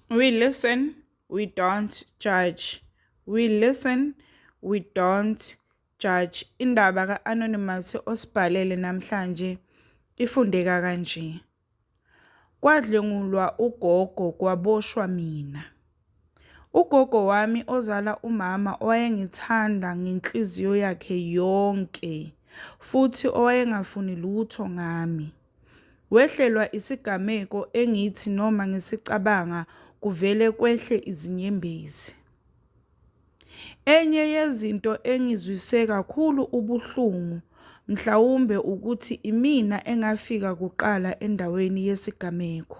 We listen, we don't judge. We listen, we don't judge. Indaba ka-Anonymous osibhalele namhlanje ifundeka kanje. Kwadlwengulwa ugogo kwaboshwa mina. Ugogo wami ozala umama owayengithanda ngenhliziyo yakhe yonke futhi owayengafuni lutho ngami. Wehlelwa isigameko engithi noma ngisicabanga kuvele kwehle izinyembezi. Enye yezinto engizwise kakhulu ubuhlungu mhlawumbe ukuthi imina engafika kuqala endaweni yesigameko.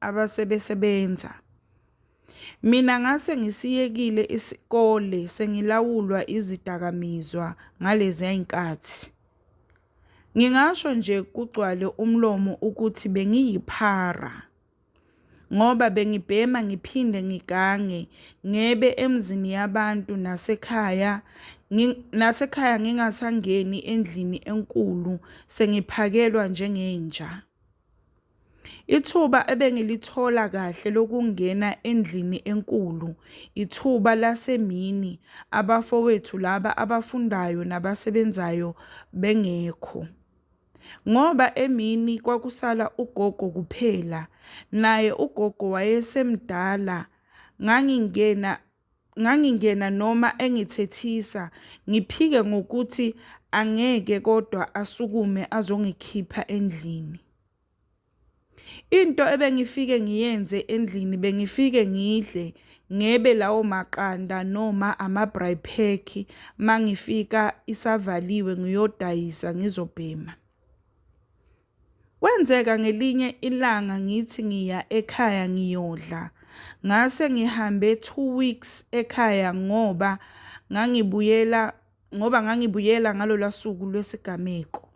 abasebesebenza. Mina ngase ngisiyekile isikole sengilawulwa izidakamizwa ngalezi y'nkathi. Ngingasho nje kugcwale umlomo ukuthi bengiyiphara ngoba bengibhema ngiphinde ngigange, ngebe emzini yabantu nasekhaya nasekhaya ngingasangeni endlini enkulu sengiphakelwa njengenja. Ithuba ebengilithola kahle lokungena endlini enkulu, ithuba lasemini abafowethu laba abafundayo nabasebenzayo bengekho. Ngoba emini kwakusala ugogo kuphela, naye ugogo wayesemdala ngangingena ngangingena noma engithethisa ngiphike ngokuthi angeke kodwa asukume azongikhipha endlini into ebengifike ngiyenze endlini bengifike ngidle ngebe lawo maqanda noma ama-bry pack mangifika isavaliwe ngiyodayisa ngizobhema Kwenzeka ngelinye ilanga ngithi ngiya ekhaya ngiyodla. Ngase ngihambe two weeks ekhaya ngoba ngangibuyela ngoba ngangibuyela ngalolwa suku lwesigameko.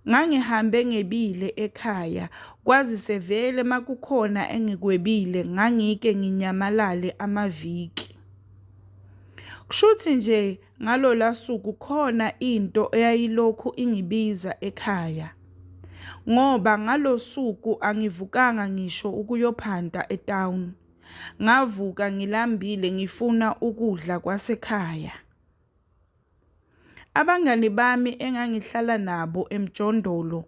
Ngangihambe ngebile ekhaya kwazise vele makukhona engikwebile ngangike nginyamalale amaviki. Kushuthi nje Ngalola suku khona into eyayilokhu ingibiza ekhaya ngoba ngalosuku angivukanga ngisho ukuyophanta etown. Ngavuka ngilambile ngifuna ukudla kwasekhaya. Abangani bami engangihlala nabo emjondolo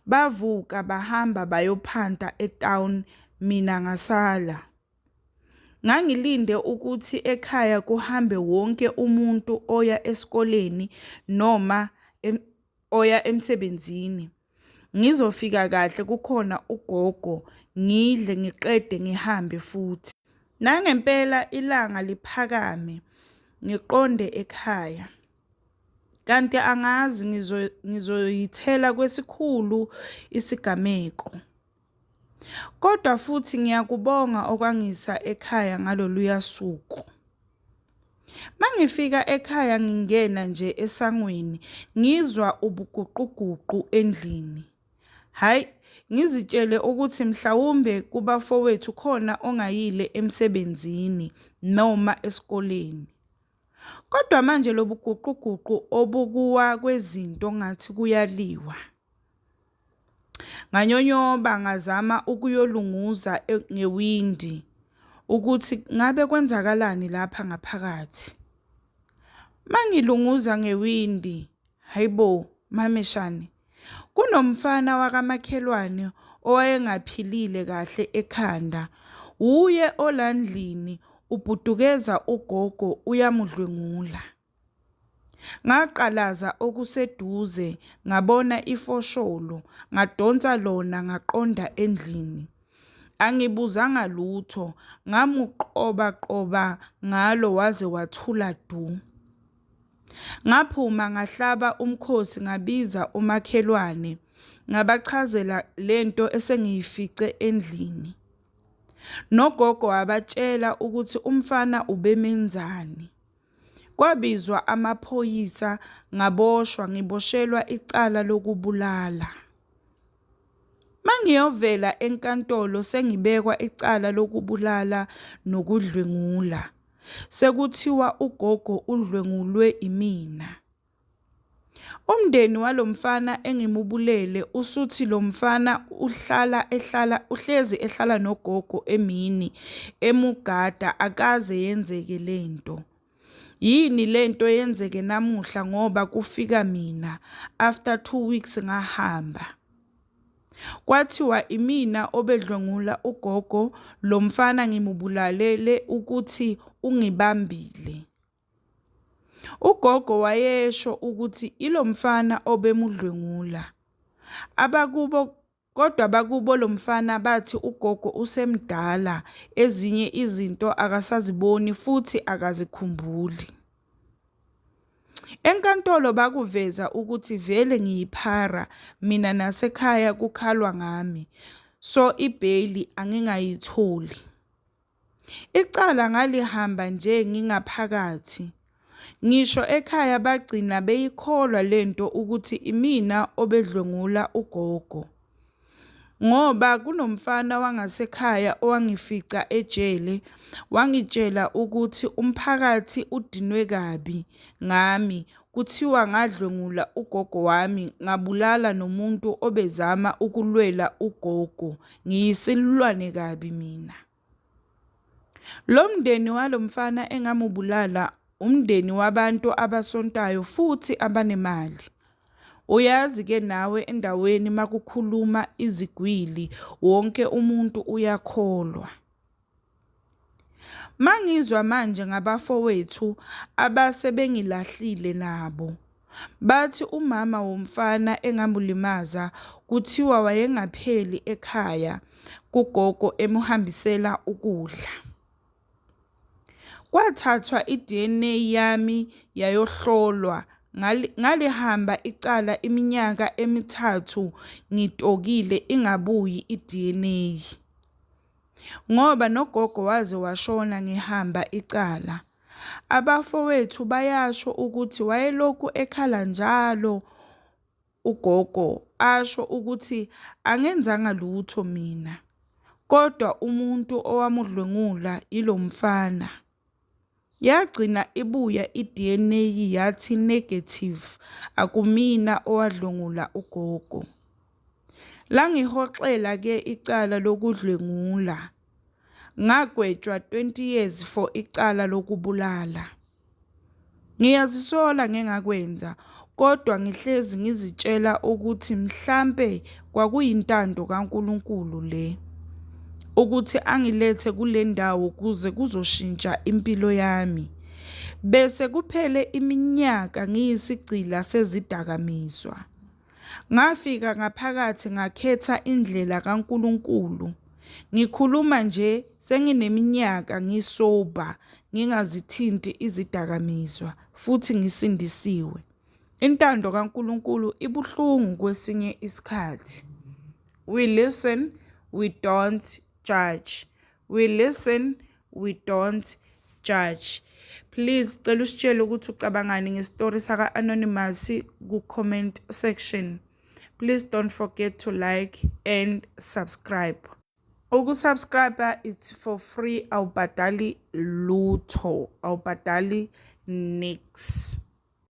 bavuka bahamba bayophanta etown mina ngasala. Ngangilinde ukuthi ekhaya kuhambe wonke umuntu oya esikoleni noma oya emsebenzini. Ngizofika kahle kukhona ugogo, ngidle ngiqede ngihambe futhi. Nangempela ilanga liphakame ngiqonde ekhaya. Kanti angazi ngizoyithela kwesikhulu isigameko. Kodwa futhi ngiyakubonga okwangisa ekhaya ngaloluya suku. Mangifika ekhaya ngingena nje esangweni ngizwa ubuguquguqu endlini. Hayi, ngizitshele ukuthi mhlawumbe kubafowethu khona ongayile emsebenzini noma esikoleni. Kodwa manje lobuguquguqu obukuwa kwezinto ngathi kuyaliwa. Nganyonyoba ngazama ukuyolunguza ngewindi ukuthi ngabe kwenzakalani lapha ngaphakathi. Mangilunguza ngewindi, haibo mameshane, kunomfana wakamakhelwane owayengaphilile kahle ekhanda. Wuye olandlini ubhudukeza ugogo uyamudlwengula. Ngaqalaza okuseduze ngabona ifosholo, ngadonsa lona ngaqonda endlini. Angibuzanga lutho, ngamuqobaqoba ngalo waze wathula du. Ngaphuma ngahlaba umkhosi ngabiza omakhelwane, ngabachazela le nto esengiyifice endlini. Nogogo wabatshela ukuthi umfana ubemenzani. Kwabizwa amaphoyisa ngaboshwa ngiboshelwa icala lokubulala. Mangiyovela enkantolo sengibekwa icala lokubulala nokudlwengula. Sekuthiwa ugogo udlwengulwe imina. Umndeni walo mfana engimubulele usuthi lo mfana uhlala ehlala uhlezi ehlala nogogo emini emugada akaze yenzeke le nto. Yini le nto yenzeke namuhla ngoba kufika mina after two weeks ngahamba. Kwathiwa imina obedlwengula ugogo, lo mfana ngimubulalele ukuthi ungibambile. Ugogo wayesho ukuthi ilo mfana obemudlwengula. Abakubo kodwa abakubo lo mfana bathi ugogo usemdala ezinye izinto akasaziboni futhi akazikhumbuli. Enkantolo bakuveza ukuthi vele ngiyiphara mina nasekhaya kukhalwa ngami so ibheyili angingayitholi. Icala ngalihamba nje ngingaphakathi. Ngisho ekhaya bagcina beyikholwa le nto ukuthi imina obedlwengula ugogo. Ngoba kunomfana wangasekhaya owangifica ejele, wangitshela ukuthi umphakathi udinwe kabi ngami, Kuthiwa ngadlwengula ugogo wami ngabulala nomuntu obezama ukulwela ugogo. Ngiyisilulwane kabi mina. Lo mndeni walo mfana engamubulala umndeni wabantu abasontayo futhi abanemali. Uyazi ke nawe endaweni makukhuluma izigwili wonke umuntu uyakholwa. Mangizwa manje ngabafowethu abase bengilahlile nabo. Bathi umama womfana engamulimaza kuthiwa wayengapheli ekhaya kugogo emuhambisela ukudla. Kwathathwa i-D_N_A yami yayohlolwa ngalihamba icala iminyaka emithathu ngitokile ingabuyi i-D_N_A. ngoba nogogo waze washona ngihamba icala. Abafowethu bayasho ukuthi wayelokhu ekhala njalo ugogo asho ukuthi angenzanga lutho mina, kodwa umuntu owamudlwengula yilo mfana. Yagcina ibuya iDNA yathi negative akumina owadlwengula ugogo. Langihoxela ke icala lokudlwengula. Ngagwetshwa 20 years for icala lokubulala. Ngiyazisola ngengakwenza, kodwa ngihlezi ngizitshela ukuthi mhlampe kwakuyintando kaNkulunkulu le, ukuthi angilethe kule ndawo kuze kuzoshintsha impilo yami. Bese kuphele iminyaka ngiyisigqila sezidakamizwa. Ngafika ngaphakathi ngakhetha indlela kaNkulunkulu. Ngikhuluma nje sengineminyaka ngisober ngingazithinti izidakamizwa futhi ngisindisiwe. Intando kaNkulunkulu ibuhlungu kwesinye isikhathi. We listen, we don't judge we listen we don't judge please cela usitshele ukuthi ucabangani ngestory saka-anonymous ku-comment section please don't forget to like and subscribe ukusubscribe it's for free awubhadali lutho awubhadali nix